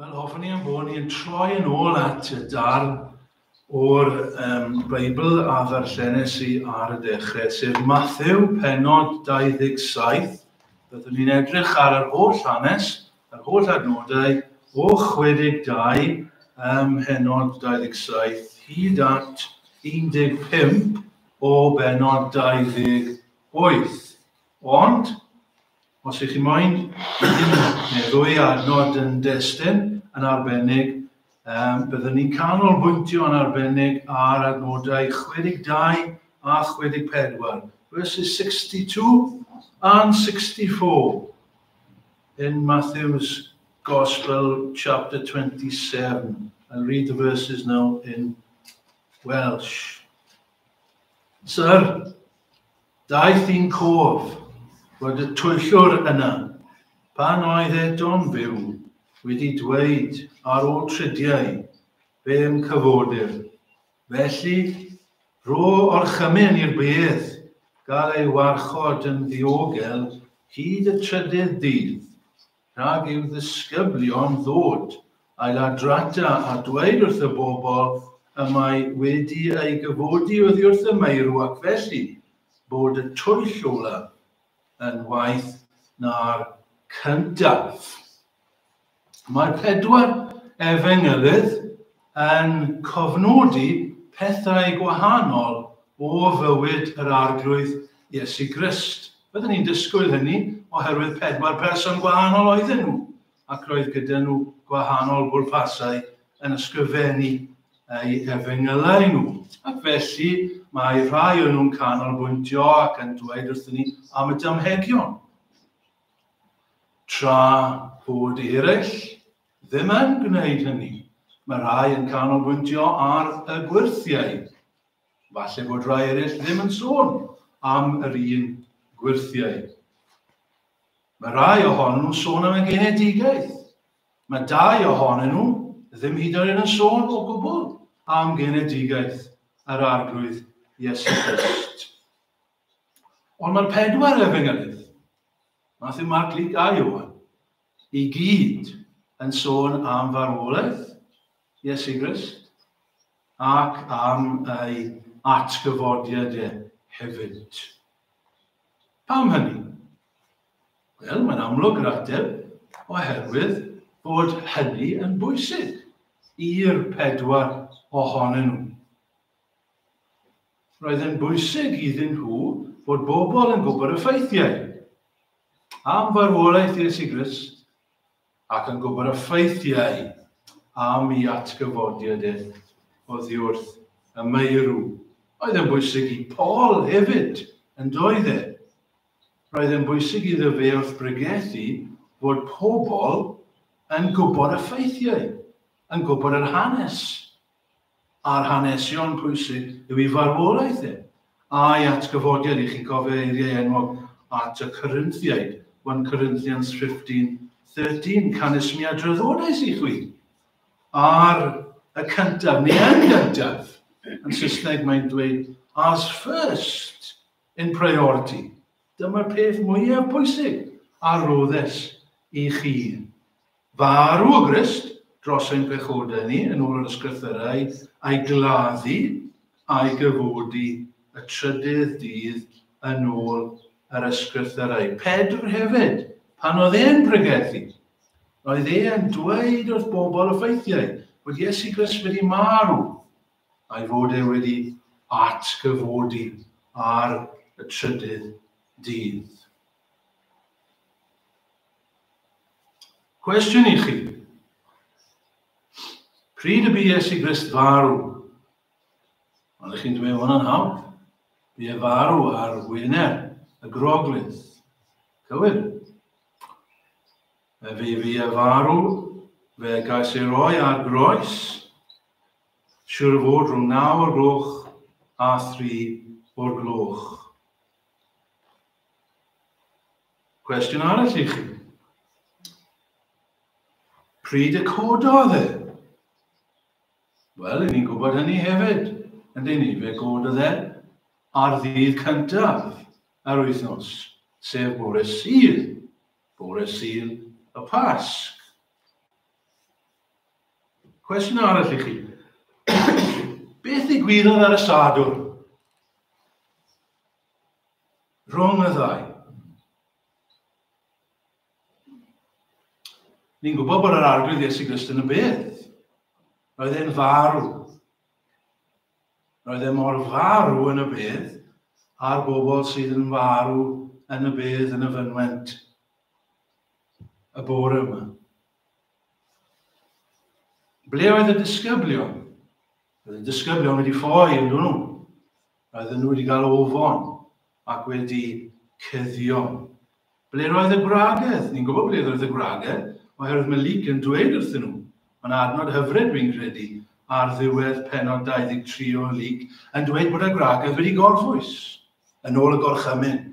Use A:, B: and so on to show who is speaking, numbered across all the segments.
A: Wel, hoffwn i am bod ni'n troi yn ôl at y dar o'r um, Beibl a ddarllenes i ar y dechrau, sef Matthew, penod 27. Byddwn ni'n edrych ar yr holl hanes, yr holl adnodau o 62 ym mhenod 27 hyd at 15 o benod 28. Wyth. Ond, os ych chi moyn un neu ddwy ar nod yn destun yn arbennig, um, byddwn ni'n canolbwyntio yn arbennig ar adnodau 62 a 64, verses 62 and 64 in Matthew's Gospel chapter 27. I'll read the verses now in Welsh. Sir, daeth i'n cof fod y twyllwr yna, pan oedd Edon fyw, wedi dweud ar ôl tridiau fe yn cyfodir. Felly, rho orchymyn i'r beth gael ei warchod yn ddiogel hyd y trydydd dydd. Rhag i'w ddisgyblion ddod â'i ladradau a dweud wrth y bobl y mae wedi ei gyfodi oddi wrth y meirw ac felly bod y twyll ola yn waeth na'r cyntaf. Mae pedwar efengylydd yn cofnodi pethau gwahanol o fywyd yr Arglwydd Iesu Grist. Byddwn ni'n disgwyl hynny oherwydd pedwar person gwahanol oedden nhw, ac roedd gyda nhw gwahanol bwrpasau yn ysgrifennu ei efengylau nhw. Ac felly mae rhai o'n nhw'n canolbwyntio ac yn dweud wrthyn ni am y damhegion. Tra bod eraill ddim yn gwneud hynny, mae rhai yn canolbwyntio ar y gwyrthiau. Falle bod rhai eraill ddim yn sôn am yr un gwyrthiau. Mae rhai ohonyn nhw'n sôn am y genedigaeth. Mae dau ohonyn nhw ddim hyd yn oed yn sôn o gwbl am genedigaeth yr arglwydd Iesu Grist. Ond mae'r pedwar efen ydydd, Matthew, Mark, Luke a Iwan, i gyd yn sôn am farwolaeth Iesu Grist ac am ei atgyfodiad e hefyd. Pam hynny? Wel, mae'n amlwg yr ateb, oherwydd bod hynny yn bwysig i'r pedwar ohonyn nhw. Roedd yn bwysig iddyn nhw fod bobl yn gwybod y ffeithiau am farwolaeth Iesu Grist ac yn gwybod y ffeithiau am ei atgyfodiad e oddiwrth y meirw. Oedd yn bwysig i Paul hefyd, yn doedd e? Roedd yn bwysig iddo fe wrth bregethu fod pobl yn gwybod y ffeithiau, yn gwybod yr hanes, a'r hanesion pwysig yw ei farwolaeth e, a'i atgyfodiad i chi cofio eiriau enwog at y Corynthiaid, 1 Corinthians 15, 13, Canesmia draddodais i chwi, ar y cyntaf, neu yn gyntaf, yn Saesneg mae'n dweud, as first in priority. Dyma'r peth mwyaf pwysig a roddes i chi. Farw o Grist dros ein pechodau ni, yn ôl yr Ysgrythyrau, a'i gladdu, a'i gyfodi y trydydd dydd, yn ôl yr Ysgrythyrau. Pedr hefyd, pan oedd e'n pregethu, roedd e yn dweud wrth bobl y ffeithiau bod Iesu Grist wedi marw, a'i fod e wedi atgyfodi ar y trydydd dydd. Cwestiwn i chi. Pryd y bu Iesu Grist farw? Ond ych chi'n dweud hwnna'n hawdd. Bu e farw ar wyner y groglith. Cywir. Fe fi fi e farw, fe gais ei roi ar groes. Siwr o fod rhwng naw o'r gloch a thri o'r gloch. Cwestiwn arall i chi. Pryd y cododd e? Wel, i ni'n gwybod hynny hefyd, yn dyn ni, fe gododd e ar ddydd cyntaf yr wythnos, sef bore sydd, bore sydd y Pasg. Cwestiwn arall i chi. Beth ddigwyddodd ar y Sadwrn? Rhwng y ddau. Ni'n gwybod bod yr arglwydd Iesu Grist yn y byd. Roedd e'n farw. Roedd e mor farw yn y byd a'r bobl sydd yn farw yn y bydd yn y fynwent y bore yma. Ble oedd y disgyblion? Oedd y disgyblion wedi ffoi yn dyn nhw. Roedden nhw wedi cael ofon ac wedi cuddio. Ble roedd y gwragedd? Ni'n gwybod ble roedd y gwragedd, oherwydd mae Luc yn dweud wrthyn nhw. Mae'n adnod hyfryd, dwi'n credu, ar ddiwedd penod 23 o Luc, yn dweud bod y gwragedd wedi gorffwys, yn ôl y gorchymyn,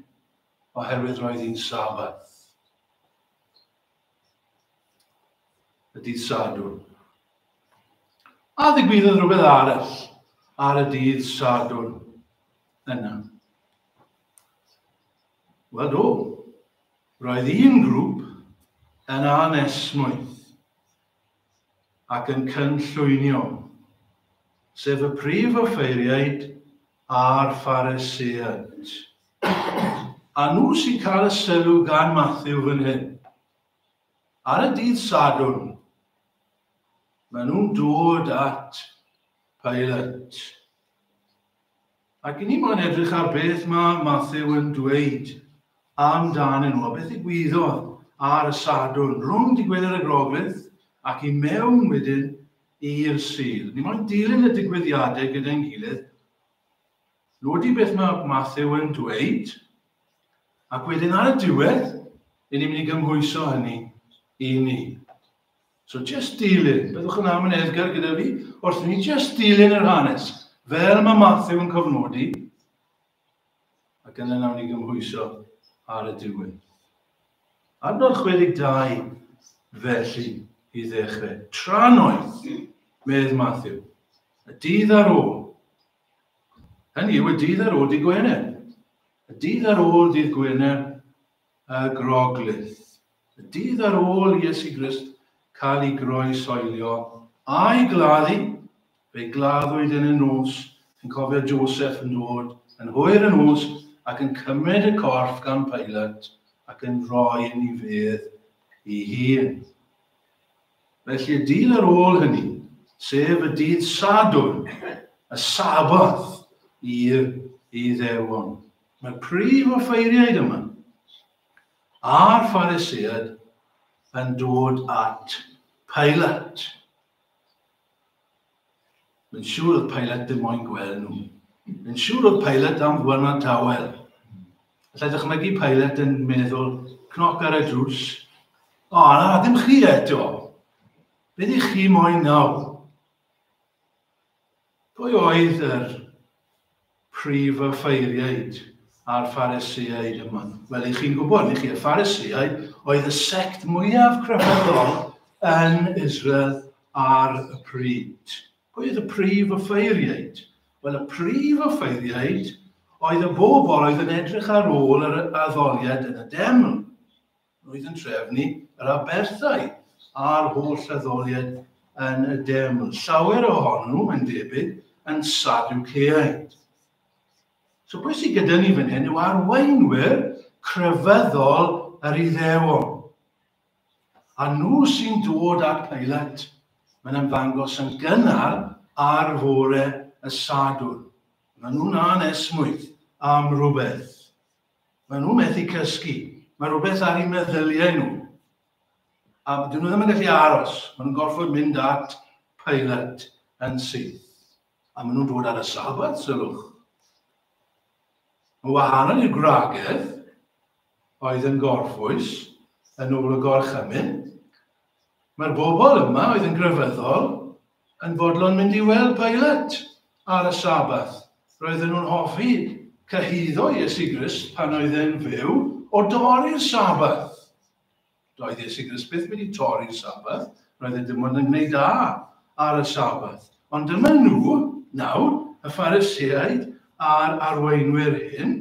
A: oherwydd roedd hi'n Sabbath. y dydd Sadwrn. A ddigwyddodd rhywbeth arall ar y dydd Sadwrn yna. Wel do, roedd un grŵp yn anesmwyth. ac yn cynllwynio, sef y prif offeiriaid a'r Phariseiaid. A nhw sy'n cael y sylw gan Matthew fan hyn. Ar y dydd Sadwrn, maen nhw'n dod at Pilate. Ac i ni mo'n edrych ar beth mae Mathew yn dweud am dan nhw, a beth ddigwyddodd ar y Sadwrn, rhwng dy Gwener y Groglith ac i mewn wedyn i'r Sul. Ni mo'n dilyn y digwyddiadau gyda'n gilydd, nodi beth mae Mathew yn dweud, ac wedyn ar y diwedd, i ni'n mynd i gymhwyso hynny i ni. So jyst dilyn, byddwch yn amyneddgar gyda fi, wrth i ni jyst dilyn yr hanes, fel mae Matthew yn cofnodi, ac yna nawn ni gymhwyso ar y diwedd. Adnod 62, felly, i ddechrau. Tra'n oedd, medd Matthew, y dydd ar ôl. Hynny yw y dydd ar ôl dydd Gwener. Y dydd ar ôl dydd Gwener, y Groglith. Y dydd ar ôl i Iesu Grist cael ei groesoelio a'i gladdu, fe gladdwyd yn y nos, yn cofio Joseph yn dod yn hwyr yn nos ac yn cymryd y corff gan Pilate ac yn rhoi yn ei fedd ei hun. Felly y dydd ar ôl hynny, sef y dydd Sadwrn, y Saboth i'r Iddewon. Mae prif offeiriaid yma, a'r Phariseaid, yn dod at Pilate. Mae'n siŵr oedd Pilate ddim moyn gweld nhw. Mae'n siŵr oedd Pilate am fwyna tawel. Alla dychmygu Pilate yn meddwl, cnoc ar y drws, o, na, ddim chi eto. Beth i chi moyn nawr? Pwy oedd yr prif offeiriaid a'r Pharisïaid yma? Wel, i chi'n gwybod, ni chi, y Pharisïaid oedd y sect mwyaf crefyddol yn Israel ar y pryd. Pwy oedd y prif offeiriaid? Wel, y prif offeiriaid oedd y bobl oedd yn edrych ar ôl yr addoliad yn y deml. Roedd yn trefnu yr aberthau a'r holl addoliad yn y deml. Llawer ohonyn nhw, mae'n debyg, yn Sadwceaid. So beth sydd gyda ni fan hyn yw arweinwyr crefyddol yr Iddewon. A nhw sy'n dod at Pilat, mae'n ymddangos yn gynnar ar fore y Sadwrn. Mae nhw'n anesmwyth am rhywbeth. Maen nhw methu cysgu. Mae rhywbeth ar eu meddyliau nhw. A dyn nhw ddim yn gallu aros. Maen nhw'n gorfod mynd at Pilate yn syth. A maen nhw'n dod ar y sabat, sylwch. Mae wahanol i'r gwragedd oedd yn gorffwys yn ôl y gorchymyn. Mae'r bobl yma oedd yn grefyddol yn fodlon mynd i weld Pilat ar y Sabbath. Roedden nhw'n hoffi cyhuddo Iesu Grist pan oedd e'n fyw o dorri'r Sabbath. Doedd Iesu Grist byth wedi torri'r Sabbath, roedd e dim ond yn gwneud da ar y Sabbath. Ond dyma nhw, nawr, y Phariseaid a'r arweinwyr hyn,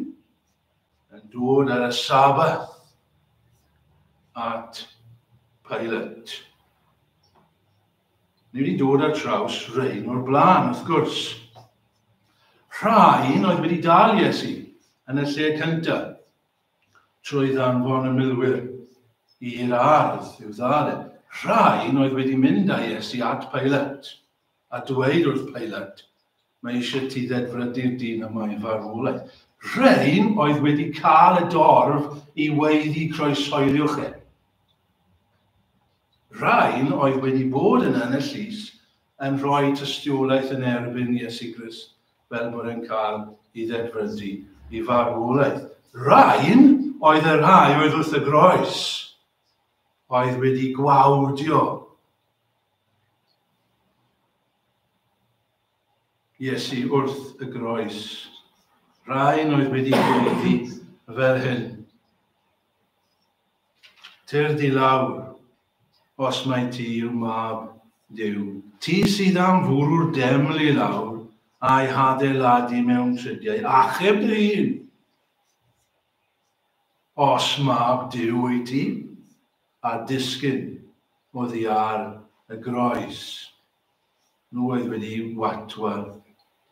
A: yn dod ar y Sabbath at Pilate. Ni wedi dod ar draws rhain o'r blaen, wrth gwrs. Rhain oedd wedi dal Iesu yn y lle cyntaf, trwy ddanfon y milwyr i'r ardd i'w ddal e. Rhain oedd wedi mynd â Iesu at Pilat, a dweud wrth Pilat, Mae eisiau ti ddedfrydu'r dyn yma i farwolaeth. Rhain oedd wedi cael y dorf i weiddi croesoeliwch e. Rhain oedd wedi bod yn yn y llys yn rhoi tystiolaeth yn erbyn Iesu Grist fel bod e'n cael i ddedfrydu i farwolaeth. Rhain oedd y rhai oedd wrth y groes oedd wedi gwawdio Iesu wrth y groes. Rhain oedd wedi gweiddi fel hyn. Tyr di lawr, os mai ti yw mab Duw. Ti sydd am fwrw'r deml i lawr a'i hadeiladu mewn tridiau, achub dy hun. Os mab Duw wyt ti, a disgyn oddi ar y groes. Nhw oedd wedi watwad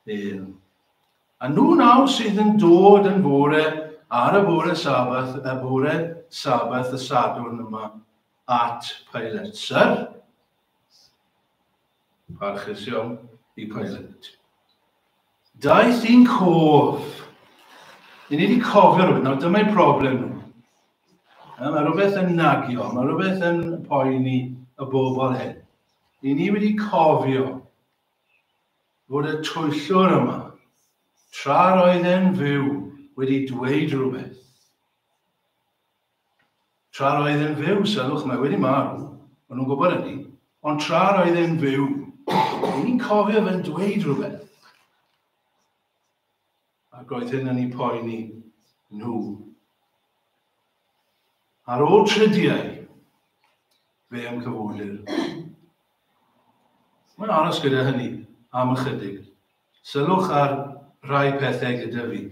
A: bel. A nhw nawr sydd yn dod yn fore ar y bore Sabbath, y bore Sabbath y Sadwrn yma, at Pilate. Sir? Parchus iawn i Pilate. Daeth i'n cof. I ni wedi cofio rhywbeth. Nawr, dyma'i problem nhw. Mae rhywbeth yn nagio, mae rhywbeth yn poeni y bobl hyn. Ry'n ni wedi cofio fod y twyllwr yma, tra'r oedd e'n fyw, wedi dweud rhywbeth. Tra'r oedd e'n fyw, sylwch, mae wedi marw, ond nhw'n gwybod hynny, ond tra'r oedd e'n fyw, ry'n ni'n cofio fe'n dweud rhywbeth. Ac oedd hyn yn eu poeni nhw. Ar ôl tridiau, fe yn cyfwlir. Mae'n aros gyda hynny am ychydig. Sylwch ar rai pethau gyda fi.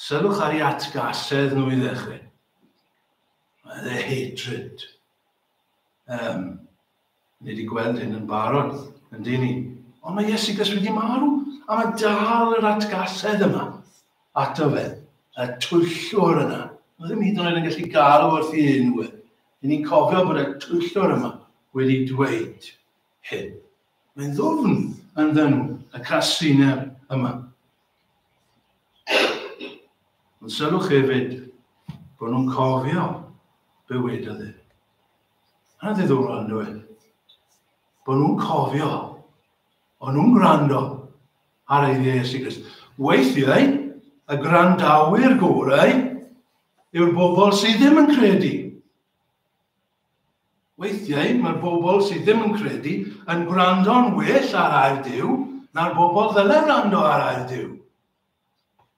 A: Sylwch ar ei atgasedd nhw i ddechrau. Mae dde hatred. Um, Ni wedi gweld hyn yn barod, yn dyn ni. Ond mae Iesugas wedi marw, a mae dal yr atgasedd yma. Ato fe, y twyllwr yna. Mae ddim hyd yn oed yn gallu galw wrth i un we. Dyn ni'n cofio bod y twyllwr yma wedi dweud hyn. Mae'n ddwfn yn ddyn y casiner yma. Ond sylwch hefyd bod nhw'n cofio bywyd y ddyn. Mae'n ddiddorol yn dweud bod nhw'n cofio, o'n nhw'n gwrando ar ei Iesu Grist. Weithiau, y gwrandawyr gorau yw'r bobl sydd ddim yn credu. Weithiau, mae'r bobl sydd ddim yn credu yn gwrando'n well ar air Dyw na'r bobl ddyle wrando ar air Dyw.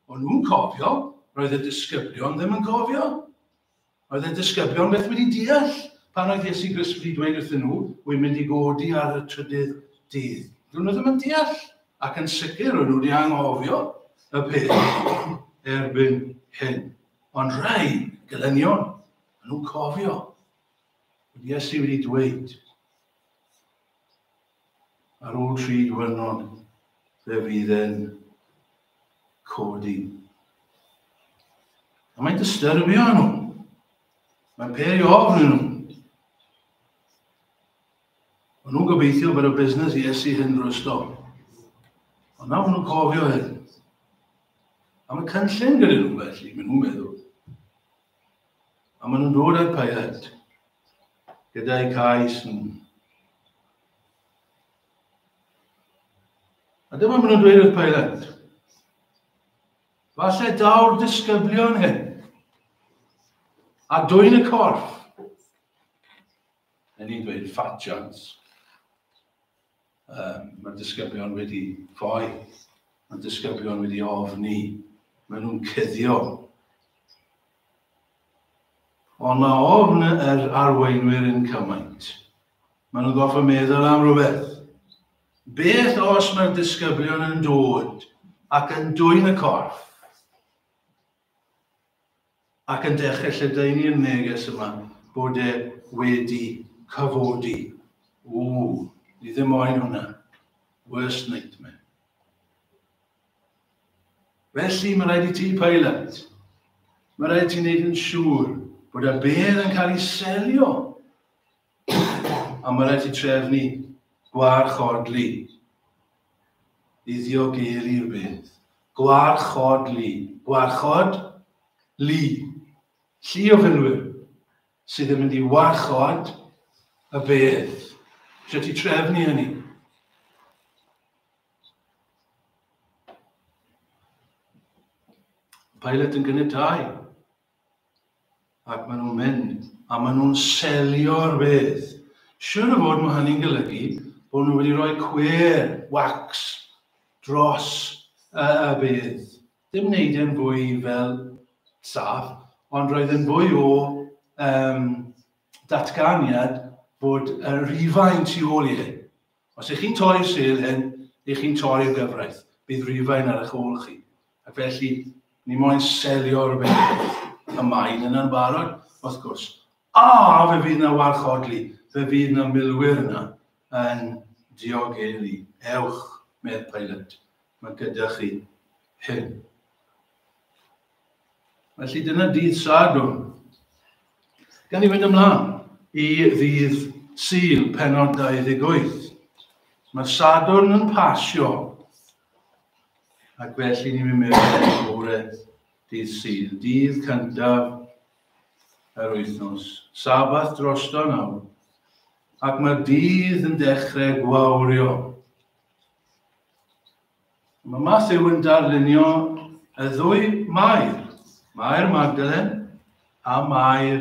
A: O'n nhw'n cofio, roedd y disgyblion ddim yn cofio. Oedd y disgyblion beth wedi deall pan oedd Iesu Grist wedi dweud wrthyn nhw, wy'n mynd i godi ar y trydydd dydd. Rwy'n nhw ddim yn deall, ac yn sicr rwy'n nhw wedi anghofio y peth erbyn hyn. Ond rhai gelynion, maen nhw'n cofio. Iesu wedi dweud, Ar ôl tri diwrnod fe fydd e'n codi. A mae'n disturbio nhw. Mae'n peri ofn nhw. Mae nhw'n gobeithio bod y busnes i esu hyn drwy'r stop. Ond nawr nhw'n cofio hyn. A mae cynllun gyda nhw felly, maen nhw'n meddwl. A maen nhw'n dod â'r pilot gyda'i cais nhw. A dyma maen nhw'n dweud wrth pilot. Falle daw'r disgyblion hyn a dwy'n y corff. Yn ni'n dweud fat chance. Um, mae disgyblion wedi ffoi, mae disgyblion wedi ofni, mae nhw'n cyddio. Ond mae ofn yr arweinwyr yn cymaint. Mae nhw'n goffa meddwl am rhywbeth. Beth os mae'r disgyblion yn dod ac yn dwy'n y corff? Ac yn dechrau lledaenu y neges yma bod e wedi cyfodi. Ww, ni ddim moyn hwnna. Worst nightmare. Felly mae rhaid i ti pilot. Mae rhaid ti'n neud yn siŵr bod y bedd yn cael ei selio A mae rhaid ti trefnu gwarchodlu i ddiogelu rhywbeth. Gwarchodlu. Gwarchod, lu. Llu o filwyr sydd yn mynd i warchod y beth. Rhaid ti trefnu hynny. Pilot yn gynnydd dau. Ac maen nhw'n mynd, a maen nhw'n selio'r beth. Siwr o fod mae hynny'n golygu bod nhw wedi rhoi cwer, wax, dros y, y beth. Dim wneud e'n fwy fel saff, ond roedd yn fwy o um, datganiad bod y rhifau'n tu ôl i hyn. Os ych chi'n torri'r sul hyn, ych chi'n torri'r gyfraith. Bydd Rufain ar eich ôl chi. Ac felly, ni moyn selio rhywbeth y mae'n yna'n barod, wrth gwrs. A, fe fydd yna warchodlu, fe fydd yna milwyr yna yn diogelu. Ewch, medd Pilate, mae gyda chi hyn. Felly dyna dydd Sadwrn. Gan i fynd ymlaen i ddydd Sul, penod 28. Mae Sadwrn yn pasio. Ac felly ni'n mynd mewn i fore dydd Sul, dydd cyntaf yr wythnos. Sabath drosto nawr. Ac mae'r dydd yn dechrau gwawrio. Mae Matthew yn darlunio y ddwy Mair, Mair Magdalen a Mair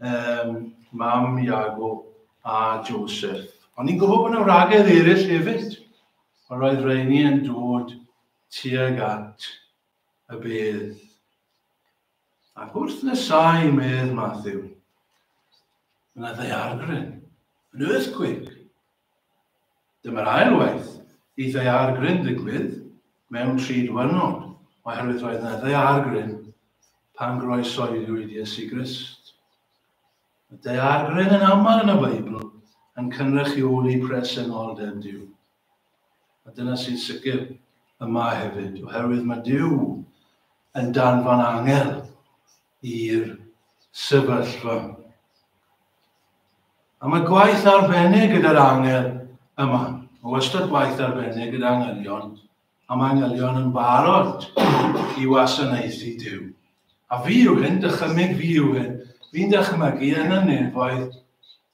A: um, mam Iago a Joseph. Ond ni'n gwybod bod yna wragedd eraill hefyd. Ond roedd rheini yn dod tuag at y bedd. Ac wrth nesau medd Matthew, yna ddaeargryn, yn earthquake, Dyma'r ail waith i ddaear gryn ddigwydd mewn tri diwrnod, oherwydd roedd yna ddaear gryn pan groesoeliwyd Iesu Grist. Mae ddaear gryn yn aml yn y Beibl yn cynrychioli presenoldeb Duw. A dyna sy'n sicr yma hefyd, oherwydd mae Duw yn danfon angel i'r sefyllfa. A mae gwaith arbennig gyda'r angel yma. Mae wastad gwaith arbennig gyda angylion, a mae angylion yn barod i wasanaethu Dyw. A fi yw hyn, dychymyg fi yw hyn. Fi'n dychymygu yn y nefoedd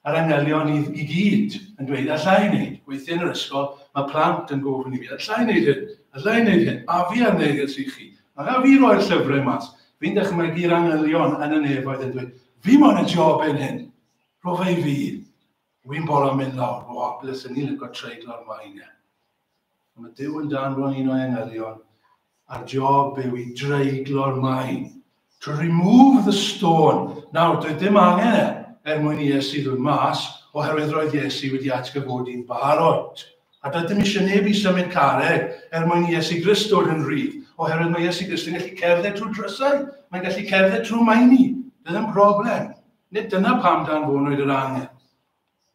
A: A'r anghenion i i gyd yn dweud alla i wneud. Weithiau yn yr ysgol mae plant yn gofyn i fi, alla i wneud hyn, alla i wneud hyn, a fi ar neges i chi, a gaf fi roi'r llyfrau mas? Fi'n dychmygu'r anghenion yn y nefoedd yn dweud, fi moyn y job yn hyn, rho fe i fi, wi'n bolo mynd lawr, o, bles yn ni'n licio treiglo'r mine. Mae Duw yn danfon un o'i angelion ar job yw i dreiglo'r maen. To remove the stone. Nawr, doedd dim angen e er mwyn i Iesu ddod mas, oherwydd roedd Iesu wedi atgyfodi'n barod. A doedd dim eisiau neb i symud carreg er mwyn i Iesu Grist dod yn rhydd, oherwydd mae Iesu Grist yn gallu cerdded trwy drysau, mae'n gallu cerdded trwy maeni. Doedd dim broblem. Nid dyna pam danfonwyd yr angen.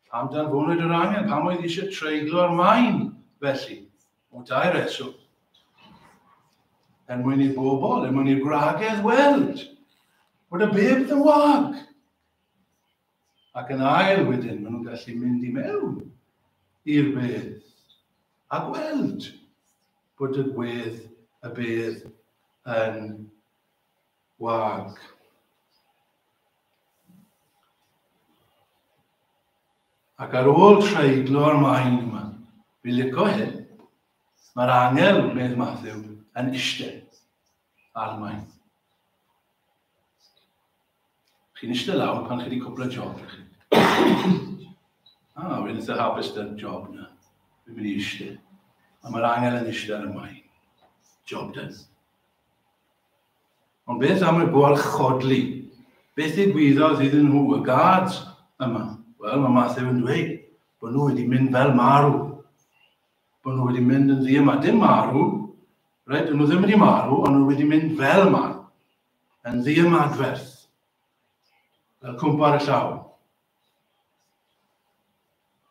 A: Pam danfonwyd yr angen? Pam oedd eisiau treiglo ar maen felly? O dau reswm. Er mwyn i bobl, er mwyn i'r gwragedd weld bod y beb yn wag. Ac yn ail wedyn, maen nhw'n gallu mynd i mewn i'r bedd a gweld bod y gwedd y bedd yn wag. Ac ar ôl treiglo'r maen yma, fi lico hyn, mae'r angel, medd Matthew, yn eistedd ar y maen. Chi'n eistedd lawr pan chi wedi cwpla job i chi. ah, fi'n eitha hapus da'r job na. Fi'n mynd i eistedd. A mae'r angel yn eistedd ar y maen. Job done. Ond beth am y gwarchodlu? Beth ddigwyddodd iddyn nhw, y gads yma? Wel, mae Matthew yn dweud bod nhw wedi mynd fel marw. Bod nhw wedi mynd yn ddi yma. Dim marw, right? Bod nhw ddim wedi marw, ond nhw wedi mynd fel yma. Yn ddi ymadferth. Fel cwmpa y llaw.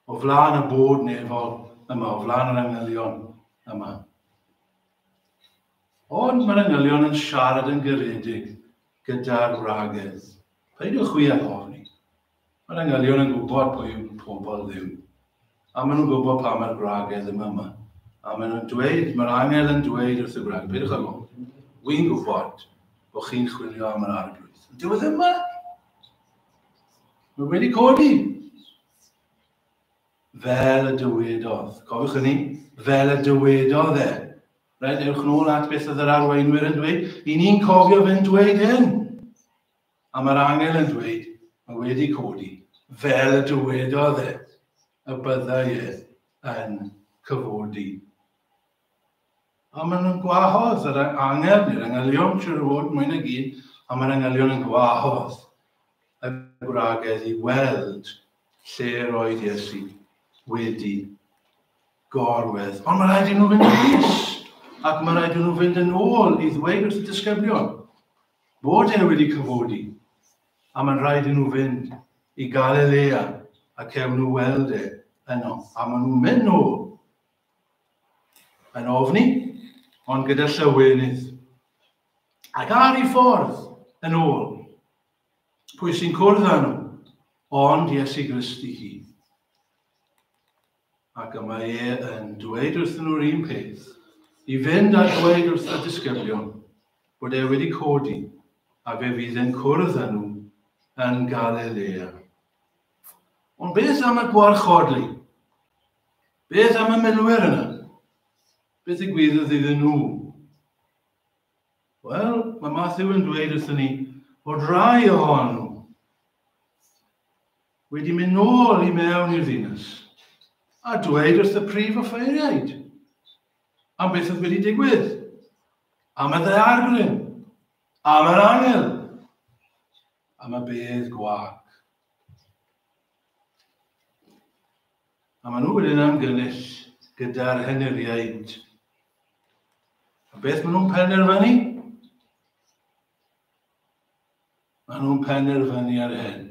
A: O flaen y bod nefol yma, o flaen yr angylion yma. Ond mae'r engylion yn siarad yn garedig gyda'r wragedd. Peidiwch chwi â ofni. Mae'r engylion yn gwybod pwy yw pobl Dduw. A maen nhw'n gwybod pa mae'r gwragedd yma yma. A maen nhw'n dweud, mae'r angel yn dweud wrth y gwragedd, peidiwch â ofni. Wy'n gwybod bod chi'n chwilio am yr arglwydd. Ond dyw e ddim yma. Mae wedi codi. Fel y dywedodd. Cofiwch hynny? Fel y dywedodd e. Reit, ewch nôl at beth oedd yr arweinwyr yn dweud. Yn ni'n cofio fe'n dweud hyn. A mae'r angel yn dweud, mae wedi codi, fel y dywedodd e, y byddai e yn cyfodi. A maen nhw'n gwahodd yr angel neu'r angelion, siwr o fod, mwyn ag un, a mae'r angelion yn gwahodd y gwragedd i weld Lle roedd Iesu wedi gorwedd. Ond mae rhaid i nhw fynd yn is, ac mae rhaid i nhw fynd yn ôl i ddweud wrth y disgyblion bod e wedi cyfodi, a mae'n rhaid i nhw fynd i Galilea a cewn nhw weld e yno. A maen nhw'n mynd nhw yn ofni, ond gyda llywynydd. Ac ar ei ffordd yn ôl, Pwy sy'n cwrdd â nhw? Ond Iesu Grist i hun. Ac y mae e yn dweud wrthyn nhw'r un peth, i fynd a dweud wrth y disgyblion bod e wedi codi a fe fydd yn cwrdd â nhw yn Galilea. Ond beth am y gwarchodlu? Beth am y milwyr yna? Beth y gwyddodd iddyn nhw? Wel, mae Matthew yn dweud wrthyn ni bod rai ohonyn nhw wedi mynd nôl i mewn i'r ddinas a dweud wrth y prif offeiriaid am beth oedd wedi digwydd, am y ddaeargryn, am yr angel. Am y bedd gwag. A maen nhw wedyn am gynnyll gyda'r henuriaid. A beth maen nhw'n penderfynu? Maen nhw'n penderfynu ar hyn.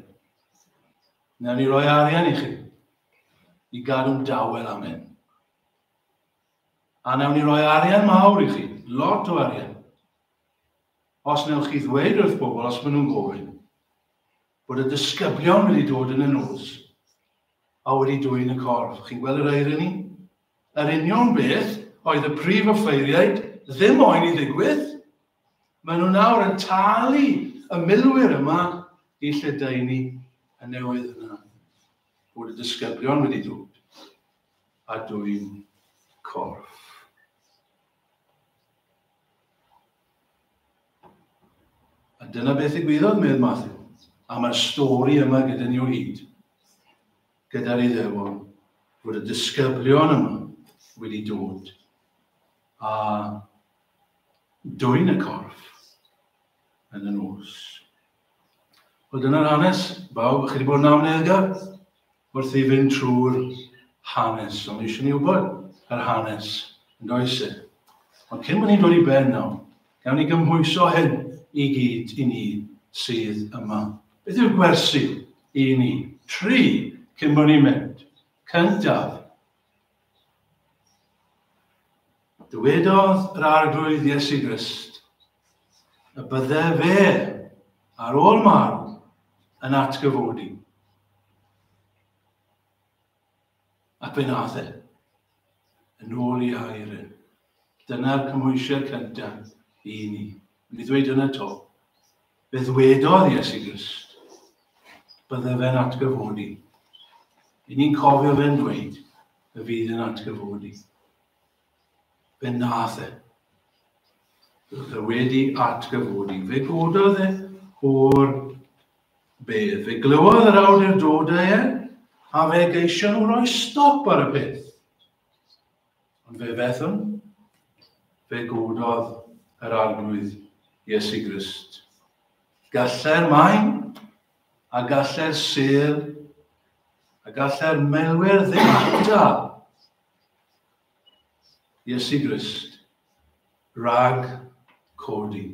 A: Newn ni roi arian i chi i gadw'n dawel am hyn. A newn ni roi arian mawr i chi, lot o arian. Os wnewch chi ddweud wrth bobl os maen nhw'n gofyn, bod y disgyblion wedi dod yn y nos a wedi dwyn y corff, chi'n gweld yr irony? Yr union beth oedd y prif offeiriaid ddim moyn i ddigwydd. Maen nhw nawr yn talu y milwyr yma i lledaenu y newydd yna, bod y disgyblion wedi dod a dwyn corff. A dyna beth ddigwyddodd, medd Matthew, a mae'r stori yma gyda ni o hyd, gyda'r Iddewon, bod y disgyblion yma wedi dod a dwy'n y corff yn y nos. Wel, dyna'r hanes, bawb, chi wedi bod yn amledd wrth i fynd trwy'r hanes. Ond eisiau ni wybod yr hanes yn does e? Ond cyn bod ni'n dod i ben nawr, gawn ni gymhwyso hyn i gyd i ni sydd yma. Beth yw'r gwersi i ni? Tri, cyn bod ni'n mynd. Cyntaf, Dywedodd yr Arglwydd Iesu Grist y bydde fe, ar ôl marw, yn atgyfodi. Ac fe nath e, yn ôl i air e. Dyna'r cymwysiad cyntaf i ni. Yn ei ddweud yn y to, Fe ddwedodd Iesu Grist, bydde fe'n atgyfodi. I ni'n cofio fe'n dweud, y fydd yn atgyfodi. Fe nath e. Roedd e wedi atgyfodi. Fe gododd e o'r bedd. Fe glywodd yr awdurdodau e, a fe geisio nhw roi stop ar y peth. Ond fe fethwn, fe gododd yr Arglwydd Iesu Grist. Gallai'r maen, a gallai'r sel, a gallai'r melwyr ddim atal Iesu Grist rag codi,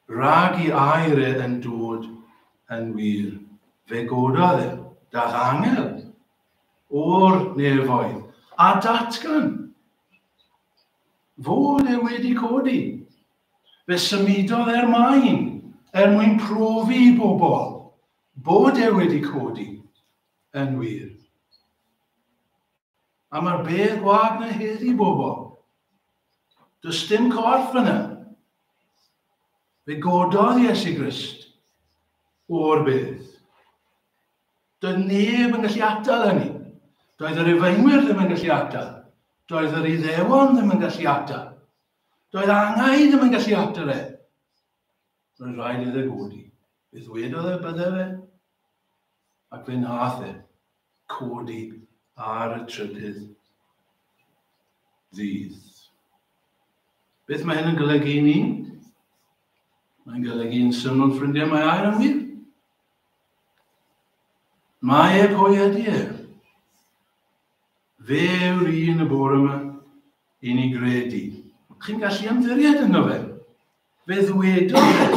A: rag i air e yn dod yn wir. Fe gododd e, dach angel o'r nefoedd a datgan fod e wedi codi. Fe symudodd er maen er mwyn profi i bobl bod e wedi codi yn wir. A mae'r bedd gwag na heddi bobl. Does dim corff yna. Fe gododd Iesu Grist o'r bedd. Doedd neb yn gallu atal hynny. Doedd yr Rufeinwyr ddim yn gallu atal. Doedd yr Iddewon ddim yn gallu atal. Doedd angau ddim yn gallu atal e. Roedd rhaid iddo godi. Fe ddwedodd y e bydde fe. Ac fe nath e codi ar y trydydd ddydd. Beth mae hyn yn golygu i ni? Mae'n golygu yn syml ffrindiau mae air yn wir. Mae e, pwy ydy e? Fe yw'r un y bore yma i ni gredu. Chi'n gallu ymddiried yno fe? Fe ddwedodd fe,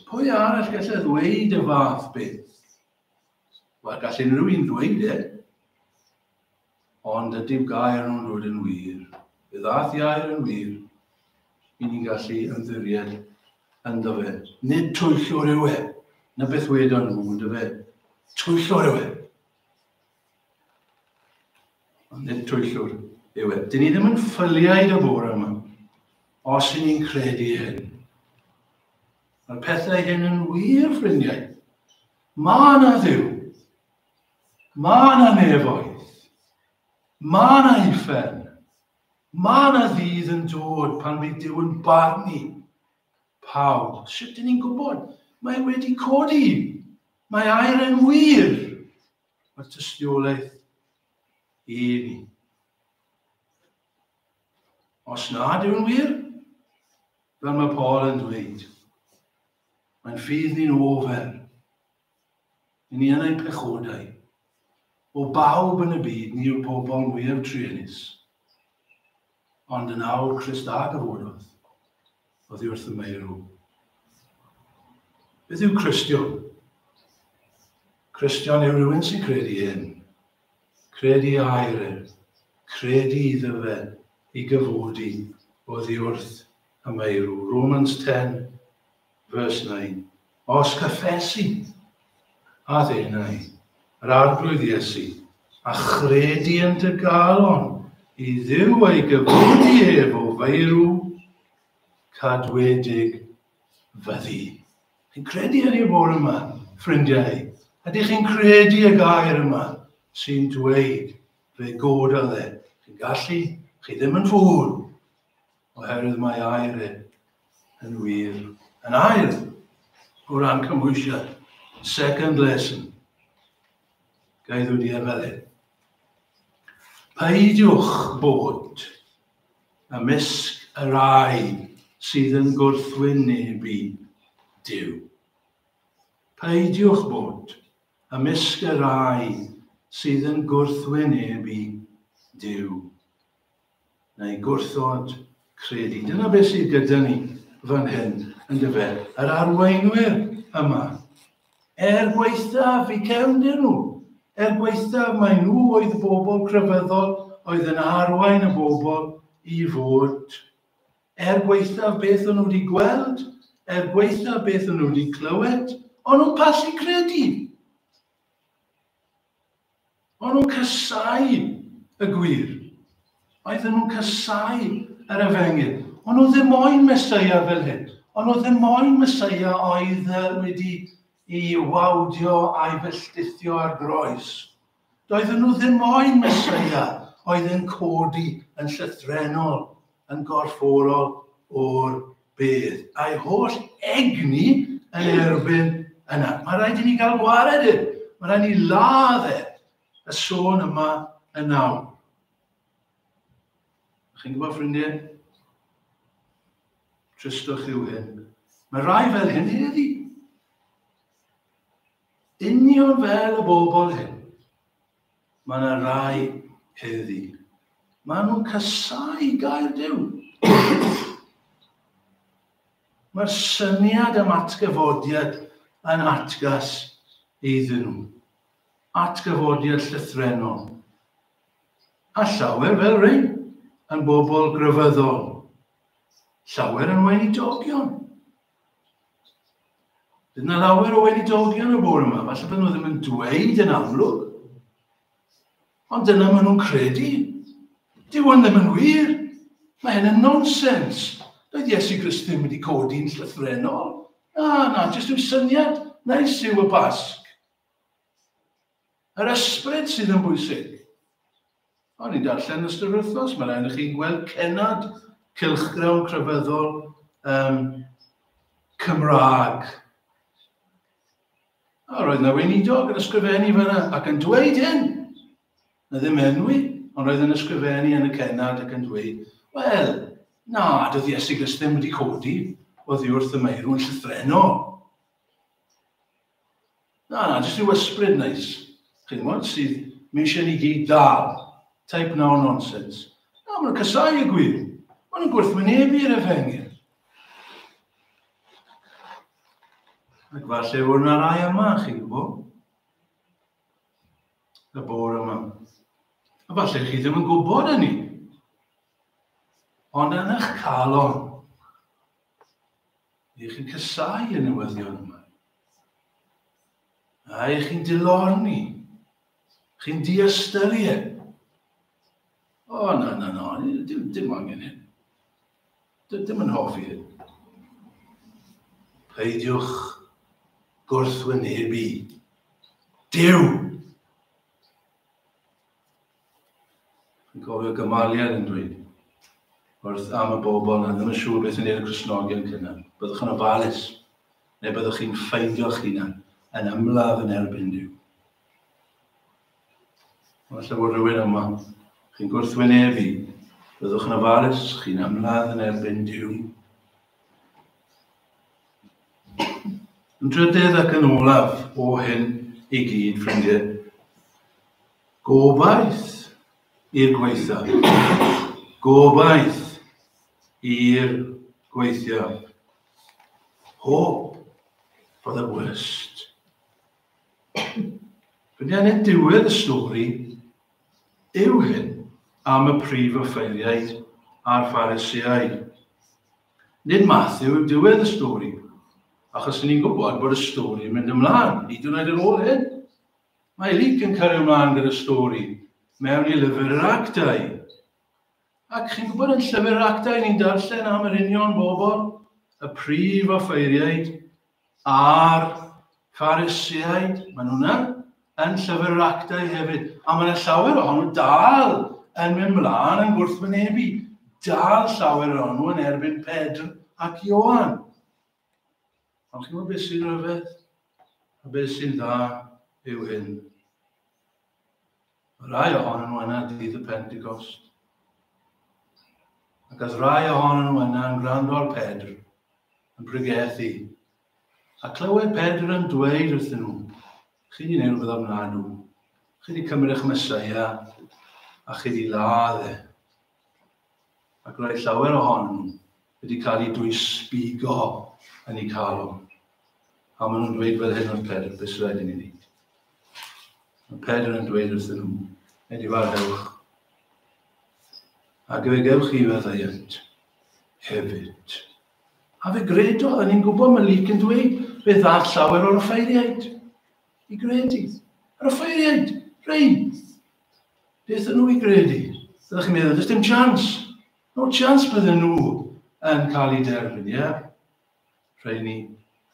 A: pwy arall gallu ddweud y fath beth? Wel, gallu rhywun ddweud e. Ond ydyw gair nhw'n dod yn wir? Fe ddaeth iair yn wir. I ni'n gallu ymddiried ynddo fe. Nid twyllwr yw e. Na beth wedon nhw, ynddo fe. Twyllwr yw e. Ond nid twyllwr yw e. Dyn ni ddim yn ffyliaid y bore yma. Os i ni'n credu hyn. Mae'r pethau hyn yn wir, ffrindiau. Mae yna ddiw. Mae yna nefoedd. Mae yna uffern. Mae yna ddydd yn dod pan fydd Dyw yn barnu pawb. Sut dyn ni'n gwybod? Mae wedi codi. Mae air yn wir. Mae'r tystiolaeth i ni. Os nad yw'n wir, fel mae Paul yn dweud, mae'n ffydd ni'n ofer Ni yn ein pechodau. O bawb yn y byd ni yw'r pobl mwyaf truenus. Ond yn awr Christ a gyfododd, oedd wrth y meirw. Beth yw Christian? Christian yw rhywun sy'n credu hyn. Credu air e. Credu iddo fe i gyfodi oedd wrth y meirw. Romans 10, Verse 9. Os cyffesi, a ddeunai, yr arglwydd Iesu, a chredi yn dy galon i ddiw ei gyflwyni ef o feirw, cadwedig fyddi. Chi'n credu hynny fod yma, ffrindiau? Ydych chi'n credu y gair yma sy'n dweud fe gododd e? Chi'n gallu? Chi ddim yn fŵl. oherwydd mae air e yn wir. Yn air, o ran cymwysiad, second lesson, gael wedi e fel hyn. Peidiwch bod ymysg y rai sydd yn gwrthwynebu Dyw. Peidiwch bod ymysg y rai sydd yn gwrthwynebu Dyw. neu gwrthod credu. Dyna beth sydd gyda ni fan hyn, yn dyfe, yr arweinwyr yma. Er gwaethaf i cefndir nhw, er gwaethaf mae nhw oedd bobl crefyddol oedd yn arwain y bobl i fod. Er gwaethaf beth o'n nhw wedi gweld, er gwaethaf beth o'n nhw wedi clywed, o'n nhw'n pasu credu. O'n nhw'n casáu y gwir. Oedden nhw'n casáu yr efengyl. O'n nhw ddim moyn Mesoea fel hyn. O'n nhw ddim moyn Mesoea oedd wedi i wawdio a'i felltithio ar groes. Doedden nhw ddim moyn Mesoea oedd yn codi yn llythrenol yn gorfforol o'r byd, a'i holl egni yn erbyn yna. Mae rhaid i ni gael gwared e. Mae rhaid i ni ladd e. Y sôn yma yn nawr. Chi'n gwybod, ffrindiau? Tristwch yw hyn. Mae rhai fel hyn heddi. Union fel y bobl hyn. Mae yna rai heddi. Mae nhw'n casau gair Duw. Mae'r syniad am atgyfodiad yn atgas iddyn nhw. Atgyfodiad llythrenol. A llawer fel rhain yn bobl grefyddol. Llawer yn weinidogion. Bydd yna lawer o weinidogion y bore yma, falle bod nhw ddim yn dweud yn amlwg, ond dyna maen nhw'n credu. Dyw hwn ddim yn wir. Mae hyn yn nonsens. Doedd Iesu Grist ddim wedi codi'n llythrenol. Na, na, jyst yw syniad nais yw y Basg. Yr ysbryd sydd yn bwysig. O'n i'n darllen yn ystod yr wythnos, mae'n rhaid i chi'n gweld cenad cylchgrawn crefyddol um, Cymraeg. A roedd yna weinidog yn ysgrifennu fyna ac yn dweud hyn. Na ddim enwi, ond roedd yn ysgrifennu yn y cenad ac yn dweud, wel, na, doedd Iesu Grist ddim wedi codi oddi wrth y meirw yn llythrennol. Na, na, jyst rhyw ysbryd neis, chi'n gwybod, sydd mi eisiau ni gyd dal. Type now nonsense. Na, maen nhw'n casau y gwir. Maen nhw'n gwrthwynebu'r efengyl. Ac falle fod yna rai yma, chi'n gwybod? Y bor yma. A falle chi ddim yn gwybod hynny. Ond yn eich calon, Ych chi'n cysau y newyddion yma? A ych chi'n dilorni? Chi'n diastyried? O, oh, na, na, na, dim, dim angen hyn. Dim, dim yn hoffi hyn. Peidiwch gwrthwynebu. Dyw! Dwi'n cofio gymaliad yn dweud wrth am y bobl na ddim yn siŵr beth yn neud y Cresnogion cynnar. Byddwch yn ofalus, neu byddwch chi'n ffeindio'ch hunan yn ymladd yn erbyn Dyw. Ond lle bod rhywun yma, chi'n gwrthwynebu, byddwch yn ofalus, chi'n ymladd yn erbyn Dyw. Yn drydydd ac yn olaf o hyn i gyd, ffrindiau, Gobaith i'r gwaethaf. Gobaith i'r gwaethaf. Hope for the worst. Fynian yn diwedd y stori yw hyn am y prif offeiriaid a'r ffarisiau. Nid Matthew yw diwedd y stori, achos ni'n gwybod bod y stori yn mynd ymlaen, hyd yn oed ar ôl hyn. Mae Luc yn cario mlaen gyda stori mewn i lyfr yr actau. Ac chi'n gwybod yn llyfr yr actau ni'n darllen am yr union bobl, y prif offeiriaid a'r ffarisiaid, maen nhw yna yn llyfr yr actau hefyd. A mae yna llawer ohonyn nhw dal yn mynd mlaen yn gwrthwynebu, dal llawer ohonyn nhw yn erbyn Pedr ac Ioan. Ond chi'n gwybod beth sy'n rhyfedd? A beth sy'n dda yw hyn. Mae rai ohonyn nhw yna dydd y Pentecost. Ac oedd rai ohonyn nhw yna yn gwrando ar Pedr, yn pregethu. A clywed Pedr yn dweud wrthyn nhw, chi wedi gwneud rhywbeth ofnadw. Chi wedi cymryd eich mesaia a chi wedi ladd e. Ac roedd llawer ohonyn nhw wedi cael eu dwysbigo yn eu calon. A maen nhw'n dweud fel hyn wrth Pedr, beth sydd i ni wneud? Mae Pedr yn dweud wrthyn nhw, edifarhewch. Ac fe gewch chi feddaiant hefyd. A fe gredodd, a ni'n gwybod mae Lyc yn dweud, fe ddall llawer o'r offeiriaid i gredu. Yr offeiriaid, rei, Beth yn nhw i gredu? Ydych chi'n meddwl, does dim chans. No chans bydden nhw yn cael ei derfyn, ie? Yeah? Rhaid ni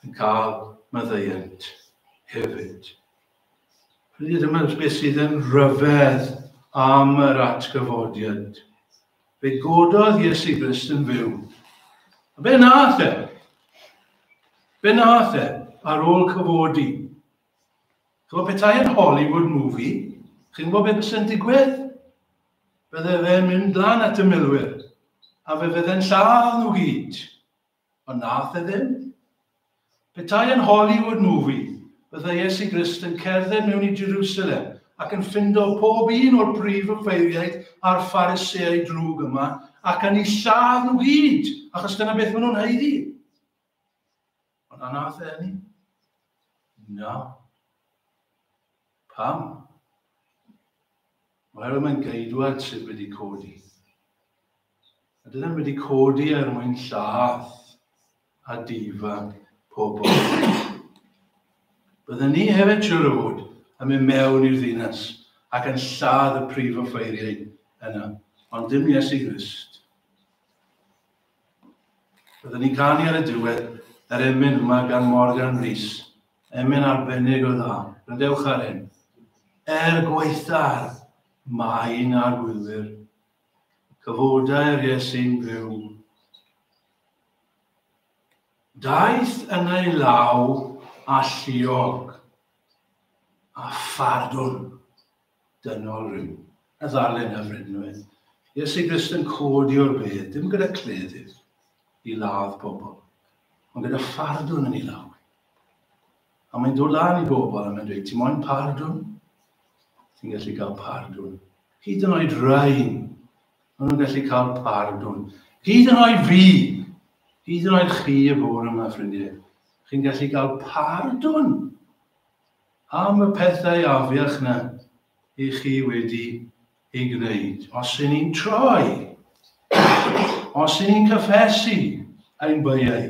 A: yn cael maddeuant hefyd. Rydyd yma beth sydd yn rhyfedd am yr atgyfodiad. Fe gododd Iesu Grist yn fyw. A be nath e? Be nath e ar ôl cyfodi? Ch'mo' petai yn Hollywood movie, chi'n gwybod beth fyse'n digwydd? Bydde fe'n mynd lan at y milwyr, a fe fydde'n lladd nhw gyd. Ond nath e ddim. Petai yn Hollywood movie, byddai Iesu Grist yn cerdded mewn i Jerusalem ac yn ffindo pob un o'r prif ymwpheiriaid a'r phariseau drwg yma ac yn ei lladd nhw gyd, achos dyna beth maen nhw'n haeddu. Ond a nath e hynny? Na. Pam? Oherwydd mae'n geidwad sydd wedi codi. A dydyn wedi codi er mwyn llath a difa pobl. Byddwn ni hefyd siwr o fod yn mynd mewn i'r ddinas ac yn lladd y prif offeiriau yna, ond dim Iesu Grist. Byddwn ni'n ganu ar y diwedd yr er emyn yma gan Morgan Rhys. Emyn arbennig o dda. Rydewch ar hyn. Er gwaethaf, mae un ar gwylwyr. Cyfodau'r Iesu'n byw. Daeth yn ei law a lliog a phardwn. dynol ryw, a ddalen a frednwedd, Iesu Grist yn codi o'r bedd, dim gyda cleddyf i ladd pobl, ond gyda phardwn yn ei law. A mae'n dod lan i bobl a mae'n dweud, ti moyn pardwn? Ti'n gallu cael pardwn. Hyd yn oed rhain, maen nhw'n gallu cael pardwn. Hyd yn oed fi, hyd yn oed chi y bore yma, ffrindiau, chi'n gallu cael pardwn Am y pethau afiach na i chi wedi ei gwneud. Os yn ni'n troi, os yn ni'n cyffesu ein byau,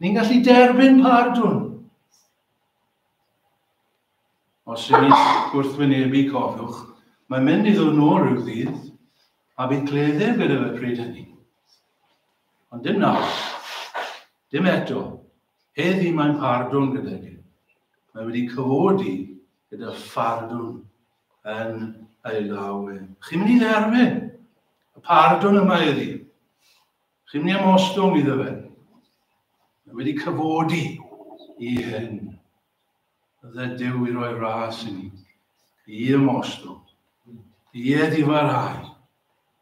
A: ni'n gallu derbyn pardwn. Os yn ni'n gwrthwynebu cofiwch, mae'n mynd i ddod nôl rhyw ddydd, a bydd cleddyf gyda fe pryd hynny. Ond dim nawr, dim eto. Heddi mae'n pardwn gydag e. Mae wedi cyfodi gyda phardwn yn ei law e. Chi'n mynd i dderbyn y pardwn yma iddi. Chi'n mynd i amostwng iddo fe. Mae wedi cyfodi i hyn. Ydde Duw i roi ras i ni, i ymostwng, i eddifarhau,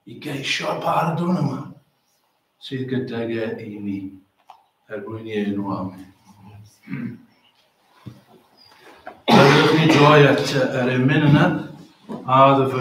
A: i geisio'r pardwn yma sydd gydag e i ni, er mwyn i enw amen. Rydych chi droi at yr emyn yna, a ddyfynnu